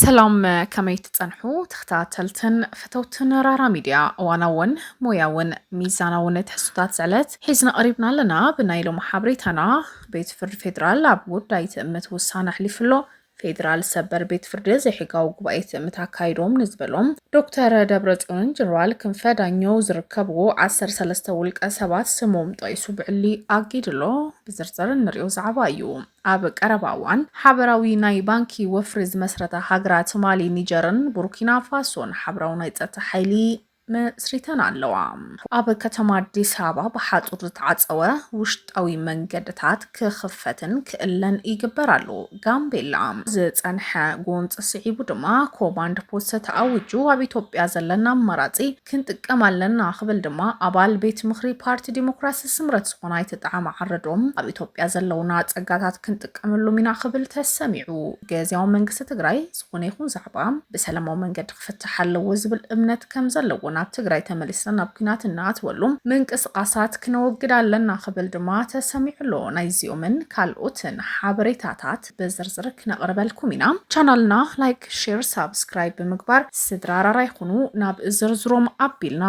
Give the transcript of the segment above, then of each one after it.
ሰላም ከመይ ትጸንሑ ተኸታተልትን ፈተውትን ራራ ሚድያ እዋናውን ሞያውን ሚዛናውን ትሕዝቶታት ዝዕለት ሒዝና ቀሪብና ኣለና ብናይ ሎሚ ሓበሬታና ቤት ፍርዲ ፌዴራል ኣብ ጉዳይ ትእምት ውሳነ ኣሕሊፉ ኣሎ ፌዴራል ሰበር ቤት ፍርዲ ዘይሕጋዊ ጉባኤ ትእምት ኣካይዶም ንዝበሎም ዶክተር ደብረፅዮንን ጀነራል ክንፈ ዳኘው ዝርከብዎ ዓሰርተ ሰለስተ ውልቀ ሰባት ስሞም ጠቂሱ ብዕሊ ኣጊድሎ ብዝርዝር እንሪኦ ዛዕባ እዩ። ኣብ ቀረባ እዋን ሓበራዊ ናይ ባንኪ ወፍሪ ዝመስረታ ሃገራት ማሊ፣ ኒጀርን ቡርኪና ፋሶን ሓበራዊ ናይ ፀጥታ ሓይሊ መስሪተን ኣለዋ። ኣብ ከተማ ኣዲስ ኣበባ ብሓፁር ዝተዓፀወ ውሽጣዊ መንገድታት ክኽፈትን ክእለን ይግበር ኣሎ። ጋምቤላ ዝፀንሐ ጎንፂ ስዒቡ ድማ ኮማንድ ፖስት ተኣዊጁ ኣብ ኢትዮጵያ ዘለና ኣማራፂ ክንጥቀም ኣለና ክብል ድማ ኣባል ቤት ምኽሪ ፓርቲ ዲሞክራሲ ስምረት ዝኾነ ኣይተ ጣዕመ ዓረዶም ኣብ ኢትዮጵያ ዘለውና ፀጋታት ክንጥቀመሎም ኢና ክብል ተሰሚዑ። ግዚያዊ መንግስቲ ትግራይ ዝኾነ ይኹን ዛዕባ ብሰላማዊ መንገዲ ክፍታሕ ኣለዎ ዝብል እምነት ከምዘለዎን ኣብ ትግራይ ተመሊስና ናብ ኲናት እንኣትወሉ ምንቅስቓሳት ክነወግድ ኣለና ክብል ድማ ተሰሚዑ ኣሎ። ናይዚኦምን ካልኦትን ሓበሬታታት ብዝርዝር ክነቕርበልኩም ኢና። ቻናልና ላይክ፣ ሼር፣ ሳብስክራይብ ብምግባር ስድራ ራራ ይኹኑ። ናብ ዝርዝሮም ኣቢልና።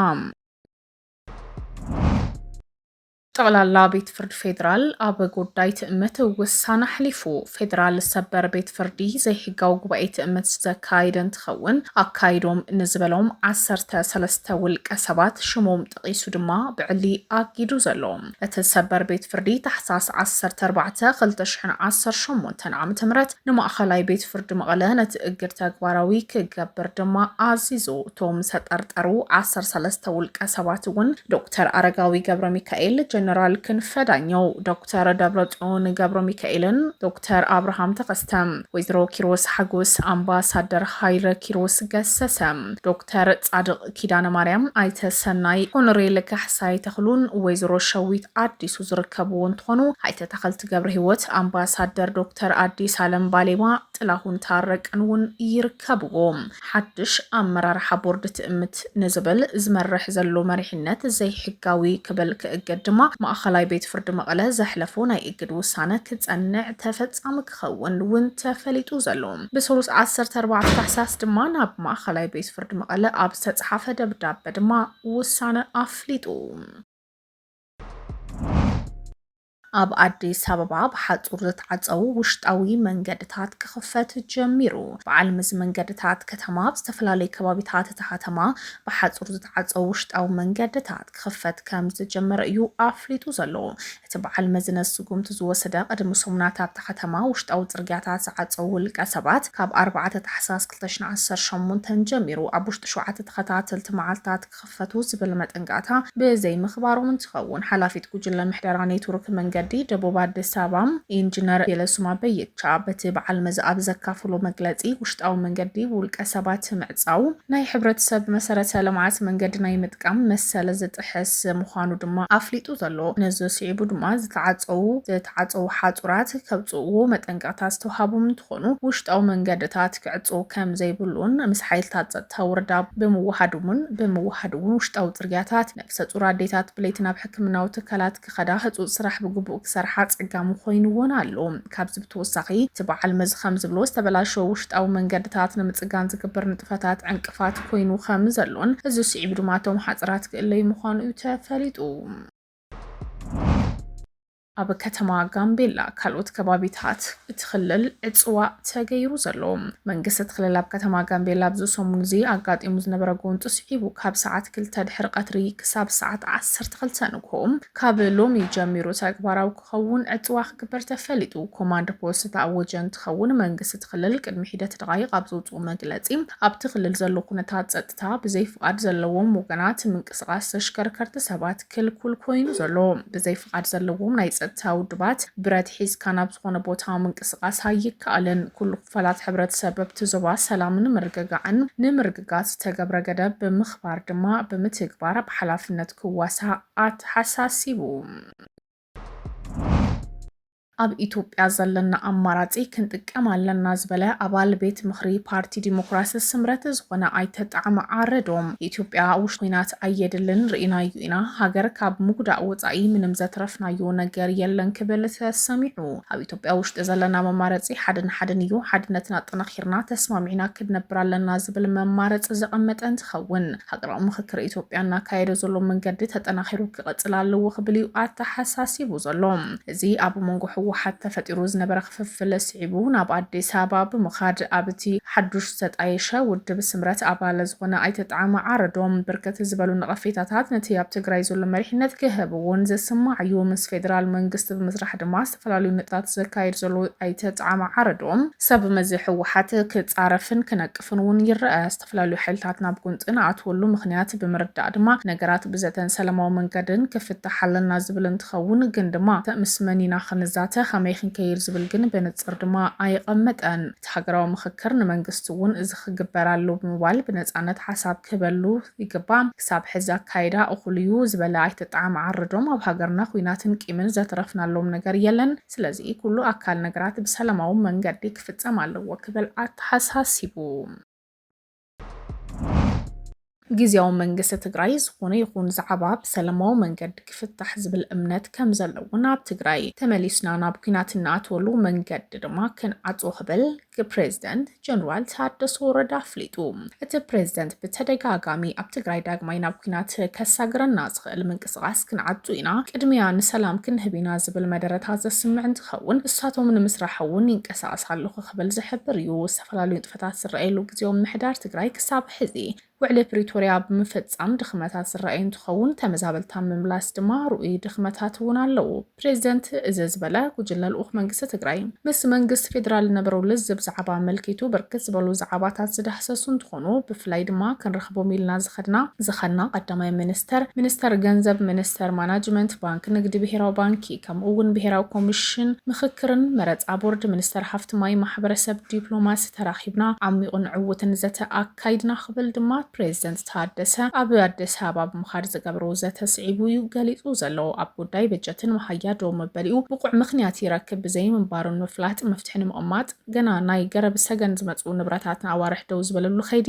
ጠቕላላ ቤት ፍርድ ፌዴራል ኣብ ጉዳይ ትእምት ውሳነ ኣሕሊፉ። ፌዴራል ሰበር ቤት ፍርዲ ዘይሕጋዊ ጉባኤ ትእምት ዝተካየደ እንትኸውን ኣካይዶም ንዝበሎም ዓሰርተ ሰለስተ ውልቀ ሰባት ሽሞም ጠቒሱ ድማ ብዕሊ ኣጊዱ ዘሎ እቲ ሰበር ቤት ፍርዲ ታሕሳስ ዓሰርተ ኣርባዕተ ክልተ ሽሕን ዓሰርተ ሸሞንተን ዓመተ ምህረት ንማእኸላይ ቤት ፍርዲ መቐለ ነቲ እግድ ተግባራዊ ክገብር ድማ ኣዚዙ። እቶም ዝተጠርጠሩ ዓሰርተ ሰለስተ ውልቀ ሰባት እውን ዶክተር ኣረጋዊ ገብረሚካኤል፣ ጀነራል ክንፈ ዳኘው፣ ዶክተር ደብረፅዮን ገብረሚካኤልን ዶክተር ኣብርሃም ተኸስተ፣ ወይዘሮ ኪሮስ ሓጎስ፣ ኣምባሳደር ሃይለ ኪሮስ ገሰሰ፣ ዶክተር ፃድቕ ኪዳነ ማርያም፣ ኣይተ ሰናይ፣ ኮሎኔል ካሕሳይ ተኽሉን ወይዘሮ ሸዊት ኣዲሱ ዝርከብዎ እንትኾኑ፣ ኣይተ ተኸልቲ ገብረሂወት፣ ኣምባሳደር ዶክተር ኣዲስ ኣለም ባሌማ፣ ጥላሁን ታረቀን እውን ይርከብዎም። ሓድሽ ኣመራርሓ ቦርድ ትእምት ንዝብል ዝመርሕ ዘሎ መሪሕነት ዘይሕጋዊ ክብል ክእገድ ድማ ማእኸላይ ቤት ፍርዲ መቐለ ዘሕለፎ ናይ እግድ ውሳነ ክፀንዕ ተፈፃሚ ከምዝትኸውን እውን ተፈሊጡ ዘሎ ብሰሉስ ዓሰርተ ኣርባዕተ ታሕሳስ ድማ ናብ ማእኸላይ ቤት ፍርዲ መቐለ ኣብ ዝተፅሓፈ ደብዳበ ድማ ውሳነ ኣፍሊጡ። ኣብ ኣዲስ ኣበባ ብሓፁር ዝተዓፀዉ ውሽጣዊ መንገድታት ክኽፈት ጀሚሩ። በዓል መዚ መንገድታት ከተማ ኣብ ዝተፈላለዩ ከባቢታት እታ ከተማ ብሓፁር ዝተዓፀዉ ውሽጣዊ መንገድታት ክኽፈት ከምዝጀመረ እዩ ኣፍሊጡ ዘሎ። እቲ በዓል መዝነት ስጉምቲ ዝወሰደ ቅድሚ ሰሙናት ኣብታ ከተማ ውሽጣዊ ጽርግያታት ዝዓጸው ውልቀ ሰባት ካብ ኣርባዕተ ታሕሳስ ክልተ ሽሕን ዓሰርተ ሸሞንተን ጀሚሩ ኣብ ውሽጢ ሸውዓተ ተኸታተልቲ መዓልታት ክኽፈቱ ዝብል መጠንቀቕታ ብዘይምኽባሮም እንትኸውን ሓላፊት ጉጅለ ምሕደራ ኔትወርክ መንገዲ ደቡብ ኣዲስ ኣበባ ኢንጂነር ቤለሱማ በየቻ በቲ በዓል መዚ ኣብ ዘካፈሎ መግለጺ ውሽጣዊ መንገዲ ብውልቀ ሰባት ምዕጻው ናይ ሕብረተሰብ መሰረተ ልምዓት መንገዲ ናይ ምጥቃም መሰል ዝጥሕስ ክሕዝ ምዃኑ ድማ ኣፍሊጡ ዘሎ። ነዚ ስዒቡ ድማ ዝተዓፀዉ ዝተዓፀዉ ሓፁራት ከብፅኡዎ መጠንቀቕታ ዝተውሃቦም እንትኾኑ ውሽጣዊ መንገድታት ክዕፀዉ ከም ዘይብሉን ምስ ሓይልታት ፀጥታ ወረዳ ብምውሃድውን ብምውሃድ እውን ውሽጣዊ ፅርግያታት ነብሰፁር ኣዴታት ብለይቲ ናብ ሕክምናዊ ትካላት ክኸዳ ህፁፅ ስራሕ ብግቡእ ክሰርሓ ኣፀጋሚ ኾይኑወን ኣሎ። ካብዚ ብተወሳኺ እቲ በዓል መዚ ከም ዝብሎ ዝተበላሸወ ውሽጣዊ መንገድታት ንምፅጋን ዝግበር ንጥፈታት ዕንቅፋት ኮይኑ ከም ዘሎን እዚ ስዒቡ ድማ እቶም ሓፀራት ክእለዩ ምዃኑ እዩ ተፈሊጡ። ኣብ ከተማ ጋምቤላ ካልኦት ከባቢታት እቲ ክልል ዕፅዋ ተገይሩ ዘሎ መንግስቲ እቲ ክልል ኣብ ከተማ ጋምቤላ ኣብዚ ሰሙን እዚ ኣጋጢሙ ዝነበረ ጎንፂ ስዒቡ ካብ ሰዓት ክልተ ድሕሪ ቀትሪ ክሳብ ሰዓት ዓሰርተ ክልተ ንግሆ ካብ ሎሚ ጀሚሩ ተግባራዊ ክኸውን ዕጽዋ ክግበር ተፈሊጡ። ኮማንድ ፖስት ዝተኣወጀ እንትኸውን፣ መንግስቲ እቲ ክልል ቅድሚ ሒደት ደቓይቕ ኣብ ዘውጽኦ መግለጺ፣ ኣብቲ ክልል ዘሎ ኩነታት ጸጥታ ብዘይ ፍቓድ ዘለዎም ወገናት ምንቅስቓስ ተሽከርከርቲ ሰባት ክልኩል ኮይኑ ዘሎ። ብዘይ ፍቓድ ዘለዎም ናይ ጸጥታ ውድባት፣ ብረት ሒዝካ ናብ ዝኾነ ቦታ ምንቅስቓስ ኣይከኣልን። ኩሉ ክፋላት ሕብረተሰብ ኣብቲ ዞባ ሰላምን ምርግጋዕን ንምርግጋጽ ዝተገብረ ገደብ ብምኽባር ድማ ብምትግባር ብሓላፍነት ክዋሳእ ኣተሓሳሲቡ። ኣብ ኢትዮጵያ ዘለና ኣማራፂ ክንጥቀም ኣለና ዝበለ ኣባል ቤት ምኽሪ ፓርቲ ዲሞክራሲ ስምረት ዝኾነ ኣይተ ጣዕመ ዓረዶም ኢትዮጵያ ውሽ ኩናት ኣየድልን ርኢናዩ ኢና ሃገር ካብ ምጉዳእ ወፃኢ ምንም ዘትረፍናዮ ነገር የለን ክብል ተሰሚዑ። ኣብ ኢትዮጵያ ውሽጢ ዘለና መማረፂ ሓደን ሓደን እዩ። ሓድነትና ኣጠናኺርና ተስማሚዕና ክንነብር ኣለና ዝብል መማረፂ ዘቐመጠ እንትኸውን ሃገራዊ ምኽክር ኢትዮጵያ እናካየደ ዘሎ መንገዲ ተጠናኺሩ ክቐፅል ኣለዎ ክብል እዩ ኣተሓሳሲቡ ዘሎ። እዚ ኣብ መንጎ ህወሓት ተፈጢሩ ዝነበረ ክፍፍል ስዒቡ ናብ ኣዲስ ኣበባ ብምኻድ ኣብ እቲ ሓዱሽ ዝተጣየሸ ውድብ ስምረት ኣባል ዝኾነ ኣይተ ጣዕመ ዓረዶም ብርክት ዝበሉ ነቐፌታታት ነቲ ኣብ ትግራይ ዘሎ መሪሕነት ክህብ እውን ዝስማዕ እዩ። ምስ ፌደራል መንግስቲ ብምስራሕ ድማ ዝተፈላለዩ ነጥብታት ዘካይድ ዘሎ ኣይተ ጣዕመ ዓረዶም፣ ሰብ መዚ ህወሓት ክፃረፍን ክነቅፍን እውን ይረኣ። ዝተፈላለዩ ሓይልታት ናብ ጎንፂ ንኣትወሉ ምኽንያት ብምርዳእ ድማ ነገራት ብዘተን ሰላማዊ መንገድን ክፍታሕ ኣለና ዝብል እንትኸውን ግን ድማ ምስ መን ኢና ክንዛተ፣ ከመይ ክንከይድ ዝብል ግን ብንፅር ድማ ኣየቐመጠን። እቲ ሃገራዊ ምኽክር ንመንግስቲ እውን እዚ ክግበር ኣለዎ ብምባል ብነፃነት ሓሳብ ክህበሉ ይግባእ። ክሳብ ሕዚ ኣካይዳ እኹል እዩ ዝበለ ኣይተ ጣዓመ ዓረዶም ኣብ ሃገርና ኹናትን ቂምን ዘትረፍናሎም ነገር የለን ስለዚ ኩሉ ኣካል ነገራት ብሰላማዊ መንገዲ ክፍፀም ኣለዎ ክብል ኣተሓሳሲቡ። ጊዚያዊ መንግስቲ ትግራይ ዝኾነ ይኹን ዛዕባ ብሰላማዊ መንገዲ ክፍታሕ ዝብል እምነት ከምዘለዎን ኣብ ትግራይ ተመሊስና ናብ ኲናት እንኣትወሉ መንገዲ ድማ ክንዓፅዎ ክብል ፕሬዚደንት ጀነራል ታደሰ ወረደ ኣፍሊጡ። እቲ ፕሬዚደንት ብተደጋጋሚ ኣብ ትግራይ ዳግማይ ናብ ኲናት ከሳግረና ዝኽእል ምንቅስቓስ ክንዓጹ ኢና፣ ቅድሚያ ንሰላም ክንህብ ኢና ዝብል መደረታት ዘስምዕ እንትኸውን ንሳቶም ንምስራሕ እውን ይንቀሳቐስ ኣለኹ ክብል ዝሕብር እዩ። ዝተፈላለዩ ንጥፈታት ዝረኣየሉ ግዚያዊ ምምሕዳር ትግራይ ክሳብ ሕዚ ውዕሊ ፕሪቶርያ ብምፍፃም ድኽመታት ዝረኣይ እንትኸውን ተመዛበልቲ ኣብ ምምላስ ድማ ርኡይ ድኽመታት እውን ኣለው። ፕሬዚደንት እዚ ዝበለ ጉጅለ ልኡኽ መንግስቲ ትግራይ ምስ መንግስቲ ፌዴራል ዝነበሮ ልዝብ ዛዕባ ኣመልኪቱ ብርክት ዝበሉ ዛዕባታት ዝዳህሰሱ እንትኾኑ ብፍላይ ድማ ክንረኽቦም ኢልና ዝኸድና ዝኸድና ቀዳማይ ሚኒስትር፣ ሚኒስትር ገንዘብ፣ ሚኒስትር ማናጅመንት፣ ባንኪ ንግዲ፣ ብሄራዊ ባንኪ ከምኡ እውን ብሄራዊ ኮሚሽን ምኽክርን መረፃ ቦርድ፣ ሚኒስትር ሃፍቲ ማይ፣ ማሕበረሰብ ዲፕሎማሲ ተራኺብና ዓሚቑን ዕውትን ዘተ ካይድና ክብል ድማ ፕሬዝደንት ታደሰ ኣብ ኣዲስ ኣበባ ብምኻድ ዝገብሮ ዘተ ስዒቡ እዩ ገሊፁ ዘሎ። ኣብ ጉዳይ በጀትን መሃያ ደው መበሊኡ ብቑዕ ምኽንያት ይረክብ ብዘይምንባሩን ምፍላጥ መፍትሒ ንምቕማጥ ገና ናይ ገረብ ሰገን ዝመፅኡ ንብረታት ንኣዋርሕ ደው ዝበለሉ ከይዲ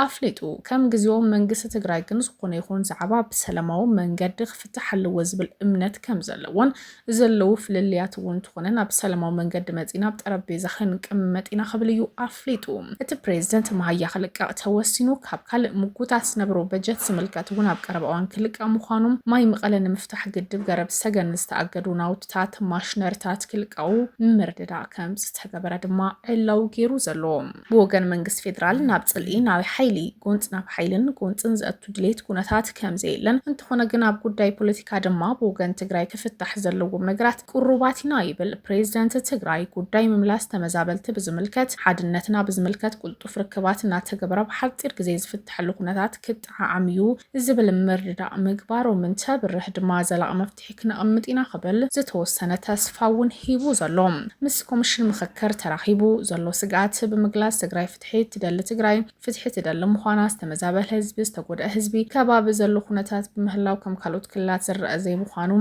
ኣፍሊጡ። ከም ግዚኦም መንግስቲ ትግራይ ግን ዝኾነ ይኹን ዛዕባ ብሰለማዊ መንገዲ ክፍታሕ ኣለዎ ዝብል እምነት ከምዘለዎን ዘለዉ ፍልልያት እውን እንተኾነ ናብ ሰላማዊ መንገዲ መፂእና ኣብ ጠረጴዛ ክንቅመጥ ኢና ክብል እዩ ኣፍሊጡ። እቲ ፕሬዚደንት መሃያ ክልቀቕ ተወሲኑ ካብ ካልእ ምጉታት ዝነበሮ በጀት ዝምልከት እውን ኣብ ቀረባ እዋን ክልቀቕ ምዃኑ፣ ማይ መቐለ ንምፍታሕ ግድብ ገረብ ሰገን ዝተኣገዱ ናውቲታት፣ ማሽነሪታት፣ ክልቀቑ ምርድዳእ ከምዝተገበረ ድማ ዕላዊ ገይሩ ዘሎ። ብወገን መንግስቲ ፌደራል ናብ ፅልኢ ናብ ሓይሊ፣ ጎንፂ ናብ ሓይልን ጎንፅን ዘእቱ ድሌት ኩነታት ከምዘየለን እንተኾነ ግን ኣብ ጉዳይ ፖለቲካ ድማ ብወገን ትግራይ ክፍታሕ ዘለዎም ነገራት ቅሩባት ኢና ይብል ፕሬዚደንት ትግራይ። ጉዳይ ምምላስ ተመዛበልቲ ብዝምልከት ሓድነትና ብዝምልከት ቁልጡፍ ርክባት እናተገበረ ብሓፂር ግዜ ዝፍተሐሉ ኩነታት ክጠዓዓም እዩ ዝብል ምርድዳእ ምግባሮም እንተብርህ ድማ ዘላቒ መፍትሒ መፍትሒ ክነቕምጥ ኢና ክብል ዝተወሰነ ተስፋ እውን ሂቡ ዘሎ ምስ ኮምሽን ምኽክር ተራኺቡ ዘሎ ስግኣት ብምግላፅ ትግራይ ፍትሒ እትደሊ ትግራይ ፍትሒ ትደሊ ምዃና ዝተመዛበለ ህዝቢ ዝተጎድኣ ህዝቢ ከባቢ ዘሎ ኩነታት ብምህላው ከም ካልኦት ክልላት ዝረኣ ዘይምዃኑ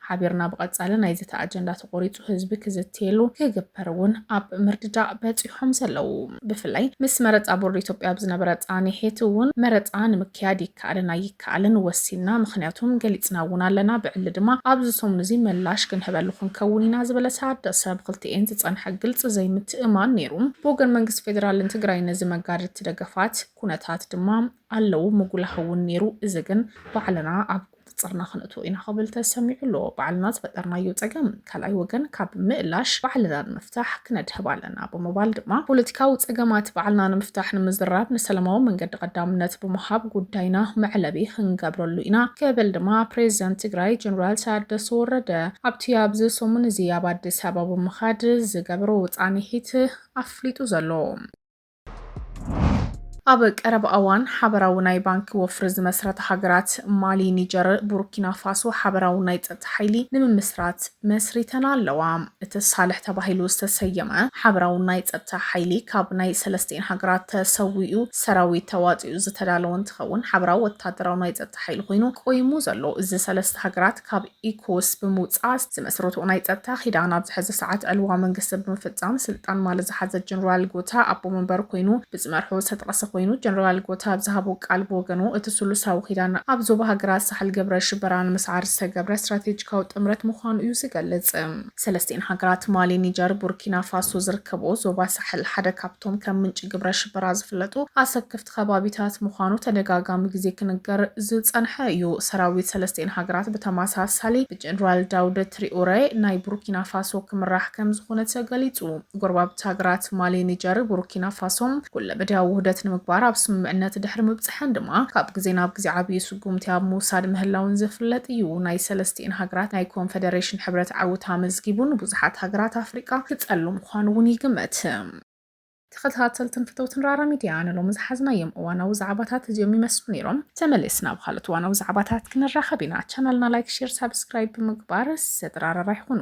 ሓቢርና ብቐፃሊ ናይ ዘተ ኣጀንዳ ተቖሪፁ ህዝቢ ክዝትየሉ ክግበር እውን ኣብ ምርድዳእ በፂሖም ዘለዉ። ብፍላይ ምስ መረፃ ቦርድ ኢትዮጵያ ኣብ ዝነበረ ፃኒሒት እውን መረፃ ንምክያድ ይከኣልን ኣይከኣልን ወሲንና ምኽንያቱም ገሊፅና እውን ኣለና ብዕሊ ድማ ኣብዚ ሰሙን እዚ ምላሽ ክንህበሉ ክንከውን ኢና ዝበለ ታደሰ ብክልቲኤን ዝፀንሐ ግልፂ ዘይምትእምማን ነይሩ። ብወገን መንግስቲ ፌዴራልን ትግራይን ነዚ መጋድድቲ ደገፋት ኩነታት ድማ ኣለዉ ምጉላህ እውን ነይሩ እዚ ግን ባዕልና ኣብ ንፅርና ክነእትዎ ኢና ክብል ተሰሚዑ ኣሎ። ባዕልና ዝፈጠርናዮ ፀገም ካልኣይ ወገን ካብ ምእላሽ ባዕልና ንምፍታሕ ክነድህብ ኣለና ብምባል ድማ ፖለቲካዊ ፀገማት ባዕልና ንምፍታሕ ንምዝራብ ንሰላማዊ መንገዲ ቀዳምነት ብምሃብ ጉዳይና መዕለቢ ክንገብረሉ ኢና ክብል ድማ ፕሬዚደንት ትግራይ ጀነራል ታደሰ ወረደ ኣብቲ ኣብዚ ሰሙን እዚ ኣብ ኣዲስ ኣበባ ብምኻድ ዝገበሮ ፃኒሒት ኣፍሊጡ ዘሎ። ኣብ ቀረባ እዋን ሓበራዊ ናይ ባንኪ ወፍሪ ዝመስረታ ሃገራት ማሊ፣ ኒጀር፣ ቡርኪና ፋሶ ሓበራዊ ናይ ጸጥታ ሓይሊ ንምምስራት መስሪተን ኣለዋ። እቲ ሳልሕ ተባሂሉ ዝተሰየመ ሓበራዊ ናይ ጸጥታ ሓይሊ ካብ ናይ ሰለስቲኤን ሃገራት ተሰዊኡ ሰራዊት ተዋጺኡ ዝተዳለወ እንትኸውን ሓበራዊ ወተሃደራዊ ናይ ጸጥታ ሓይሊ ኮይኑ ቆይሙ ዘሎ እዚ ሰለስተ ሃገራት ካብ ኢኮስ ብምውፃእ ዝመስረትኦ ናይ ፀጥታ ኪዳን ኣብዚ ሕዚ ሰዓት ዕልዋ መንግስቲ ብምፍፃም ስልጣን ማልት ዝሓዘ ጀነራል ጎታ ኣቦ መንበር ኮይኑ ብዝመርሖ ዝተጠቐሰ ኮይኑ ጀነራል ጎታ ኣብ ዝሃቦ ቃል ብወገኑ እቲ ስሉሳዊ ኪዳን ኣብ ዞባ ሃገራት ሳሕል ግብረ ሽበራ ንምስዓር ዝተገብረ ስትራቴጂካዊ ጥምረት ምዃኑ እዩ ዝገልፅ። ሰለስቲኤን ሃገራት ማሊ፣ ኒጀር፣ ቡርኪናፋሶ ዝርከብኦ ዞባ ሳሕል ሓደ ካብቶም ከም ምንጪ ግብረ ሽበራ ዝፍለጡ ኣሰክፍቲ ኸባቢታት ምዃኑ ተደጋጋሚ ግዜ ክንገር ዝጸንሐ እዩ። ሰራዊት ሰለስቲኤን ሃገራት ብተመሳሳሊ ብጀነራል ዳውድ ትሪኡረ ናይ ቡርኪናፋሶ ክምራሕ ከምዝኾነ ተገሊጹ። ጎረባብቲ ሃገራት ማሊ፣ ኒጀር፣ ቡርኪናፋሶ ኩለመዳያዊ ውህደት ንምግባር ኣብ ስምምዕነት ድሕሪ ምብጽሐን ድማ ካብ ግዜ ናብ ግዜ ዓብዪ ስጉምቲ ኣብ ምውሳድ ምህላውን ዝፍለጥ እዩ። ናይ ሰለስቲኤን ሃገራት ናይ ኮንፈደሬሽን ሕብረት ዓውታ ኣመዝጊቡ ንብዙሓት ሃገራት ኣፍሪቃ ክጸሉ ምዃኑ'ውን ይግመት። ተኸታተልትን ፍተውትን ራራ ሚድያ ንሎሚ ዝሓዝናዮም እዋናዊ ዛዕባታት እዚኦም ይመስሉ ነይሮም። ተመሊስና ኣብ ኻልኦት እዋናዊ ዛዕባታት ክንራኸብ ኢና። ቻናልና ላይክ፣ ሼር፣ ሳብስክራይብ ብምግባር ሰድራራራይ ኹኑ።